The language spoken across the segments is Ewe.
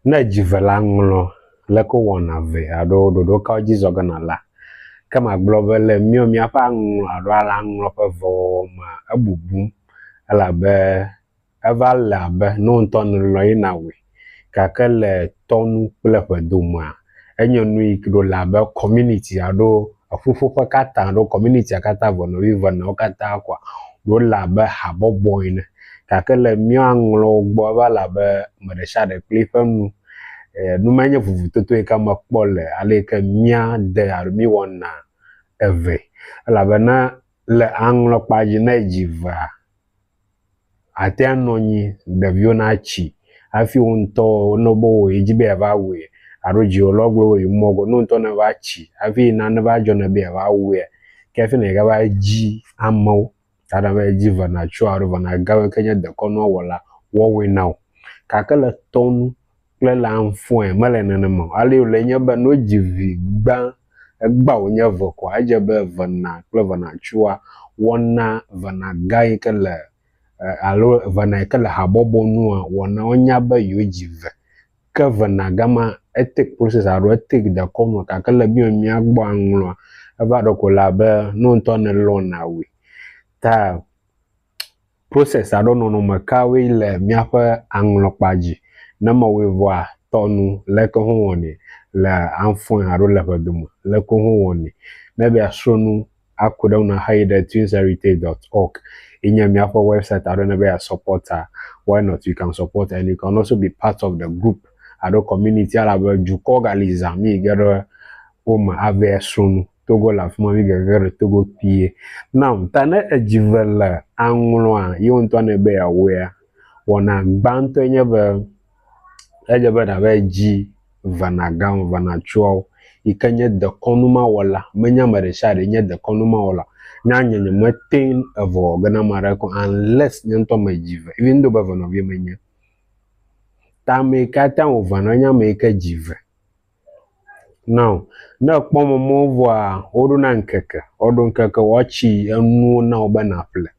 Ne dzi ve la ŋlɔ leke wowɔna ve alo ɖoɖo kawo dzi zɔ ge na la, ke magblɔ be le míawo míaƒe aŋlɔ alo alãŋlɔ ƒe vewɔwɔ mea, ebubum elabe eva le abe ne wo ŋutɔ nèlɔ̃ ye nàwɔe. Gake le tɔnu kple ʋedomea, Enye nu yi ke ɖo le abe community alo eƒuƒoƒe katã alo communitya katã ŋɔnɔvi venewo katã koa, ɖo le abe habɔbɔ ene. Gake le míawo aŋlɔwo gbɔ eva le abe ame ɖe sia ɖe kple eƒe nu. E nu ma nye vovototo yi ke ame kpɔ le ale yi ke míade alo míwɔna evɛ. Elabena le aŋlɔkpa dzi ne edzi vea, ate ŋu anɔ anyi, ɖeviwo natsi hafi wo ŋutɔ ne be wowɔe edzi be yeava wui alo dziwò le wogblɔ be yewo mewɔ ge o, ne wo ŋutɔ ne va tsi hafi nane va dzɔ nɛ be yeava wuia, ke hafi ne yi ke va dzi amewo ta na be edzi vena tsoa alo vena gã yi ke nye dekɔnua wɔla woawɔe na wò. Gake le tɔwo nu kple lã fɔe mele nenema o. Aley wòle nye be, ne wodzi vi gbã, egbã wònye eve koa, edze be venã kple venãtsua wɔna venã gã yi ke le e alo venã yi ke le habɔbɔ nua wɔna. Wonya be yewodzi ve. Ke venã gã ma e take process alo e take the common gake le mía mía gbɔ aŋlɔa, eva ɖeko le abe ne wò ŋutɔ nèlɔ̃ nawoe. Ta process alo nɔnɔme kawoe le míaƒe aŋlɔkpa dzi. Ne mewɔe vɔa, tɔ nu, le ke wowɔnɛ, le anfɔe alo le ʋe dome, le ke wowɔnɛ. Ne be yeasrɔ̃ nu aku ɖe eŋu na heyi ɖe twinsheritage.org yi nye míaƒe website alo ne be yeasupporta, why not, you can support and you can also be part of the group alo community elabe dukɔ gali zã mí yi ge ɖe wo me ave srɔ̃ nu. Togo le afi ma mi gege ɖe Togo kpuie. Nam ta ne edzi ve le aŋlɔa yewo ŋutɔ nɛ be yeawɔea, wɔna gbãtɔe nye be edze be nàva yi dzi vanagãwo, vanatsuawo yi ke nye dekɔnumawɔla. Menye ame ɖe sia ɖe nye dekɔnumawɔla o. Na nye nyemete ŋu evɔ wɔ ge na ame aɖeke o unless nye ŋutɔ medzi ve even though be evenɔvi menye. Ta ame yi ke ate ŋu wɔ vanɔ enye ame yi ke dzi ve. Now, ne èkpɔ mɔ mɔ vɔa, woɖo na ŋkeke. Woɖo ŋkeke woatsi enuwo na wò be nàƒle.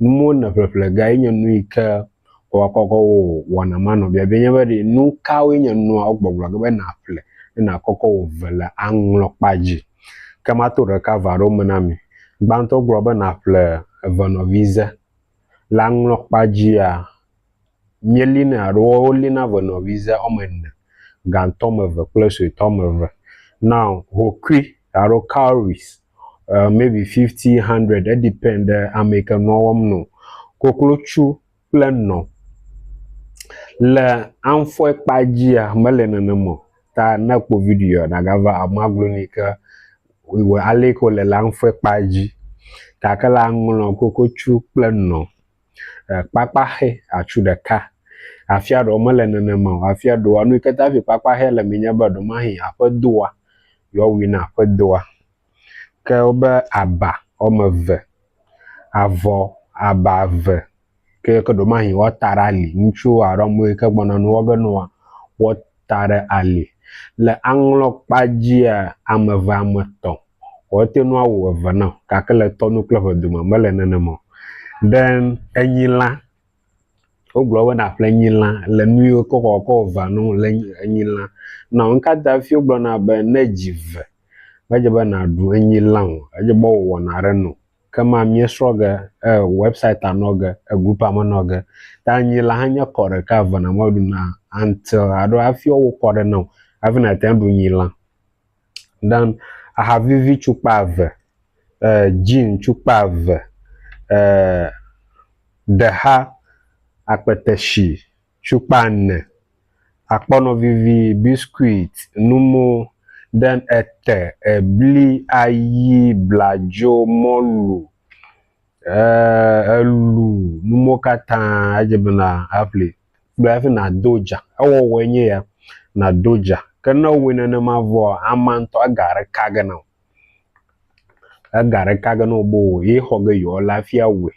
Nuwo nèƒleƒle gea, ye nye nu yi ke woakɔ kɔ wò wɔna ma nɔ. Biabia nye be ɖe nu kawoe nye nua wogbɔgblɔ ge be nàƒle ne nàkɔ kɔ wò ve le aŋlɔkpa dzi. Ke mato ɖeka va ɖe wo me na mi. Gbãtɔ gblɔ be nàƒle evenɔvize. Le aŋlɔkpa dzia, Míelina alo wolina ŋenɔvize woame ene, gãtɔ woame eve kple suetɔ woame eve. Now hokui alo cowries eh maybe fifty, hundred e depend ɖe ame yi ke nua wɔm nɔ. Koklotsu kple nɔ. Le anfuɛ kpa dzia mele nenem o ta ne ekpɔ videoa nagava magblɔ nu yi ke wòwɔ ale yi ke wòle le anfuɛ kpa dzi. Gake la aŋlɔ koklotsu kple nɔ. kpakpaxe atsu ɖeka. Afia ɖewo mele nenema o. Afia ɖewoa, nu yi ke ta hafi kpakpaxe le eme nye be ɖewomahe aƒedoa yewoa wui na aƒedoa. Ke wobe aba wɔme eve, avɔ aba eve ke ɖewomahe woata ɖe ali. Ŋutsu alo ame yi ke gbɔna ne woage ne woa, woa. ta ɖe ali. Le aŋlɔkpa dzia, ame eve, ame etɔ̃, vɔ ete ŋu awu eve na wò gake le tɔnu kple ʋe dome mele nenema o. Ɖe enyilã, wogblɔ be nàƒle enyilã le nu yi wokɔ wɔ kɔ ʋea nu le enyilã na wò. Nu ka ta hafi wogblɔna be ne dzi ve, medze be nàɖu enyilã o, edze be wòwɔna ɖe enu. ke ma miesrɔ ge e website a nɔ ge e group a me nɔ ge ta nyi la hanye kɔ ɖeka eve na mɔ ɖu na until aɖo hafi wo kɔ ɖe nɔ hafi na te ɖu nyi la dan aha vivi tukpa eve e jean tukpa eve e ɖeha akpete shi tukpa ne, akpɔnɔ vivi, biscuit, numo, ɖe ete, ebli, ayi, bladzo, mɔlu, eer elu, numo katã edze be na aƒli kple hafi na do dza. Ewɔwɔe nye ya na do dza. Ke ne ewɔe nenema vɔa ama ŋtɔ ega ɖeka ge nao. Ega ɖeka ge ne wobe wò ye xɔ ge yewoala fia wòe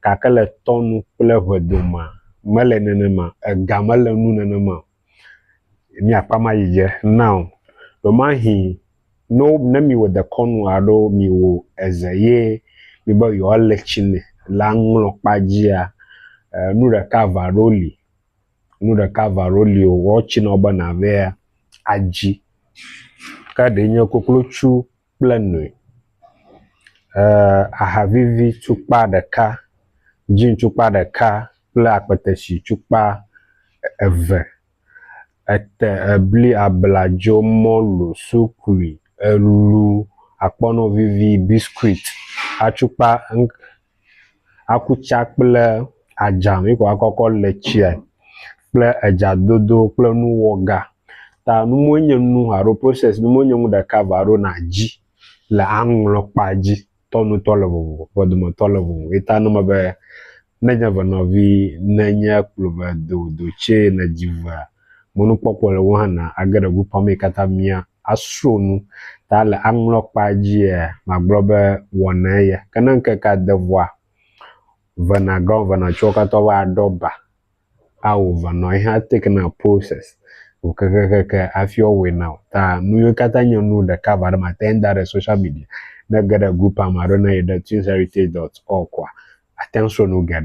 gake le tɔnu kple ŋe domea mele nenema o. Ega mele nu nenema o. Mí akpɔ ama yi dze. Now ɖewomahĩ ne wo ne miwɔ dekɔnu alo miwɔ eze ye mibe yewoale tsi me le aŋlɔkpa dzia enu ɖeka eve aɖewo li. nu ɖeka eve alo li o woatsi nɔ be nàve ya adzi ke ɖee nye koklotsu kple noe. E aha vivi tukpa ɖeka, dzi tukpa ɖeka kple akpete si tukpa eve. Ete, ebli, abladzo, mɔlu, sukui, elu, akpɔnɔ vivi, biscuit, atukpa aku tsa kple adza ye ke woakɔ kɔ le tsia kple edza dodo kple nuwɔga ta nu ma nye nu alo process nu ma nye nu ɖeka vɔ alo nadzi le aŋlɔ kpa dzi tɔ nu tɔ le vovo ƒe dometɔ le vovo ye ta ne me be ne nye be nɔvi ne nye kplɔ be do do tse ne dzi vea Mɔnukpɔkpɔ le wo hã na age ɖe gu pamee katã mía asro nu ta le aŋlɔ kpa dzia magblɔ be wɔnae ya ke ne ŋkeke ade vɔa vena gao vena tso katã va ɖɔ ba ao venɔ yi hã take na process o kekekeke afi wo wɔe na o ta nu yi katã nye nu ɖeka va ɖe ma te da ɖe social media ne ge ɖe gu pam alo ne yi ɖe twins heritage dot org kɔa ate ŋu sro nu geɖe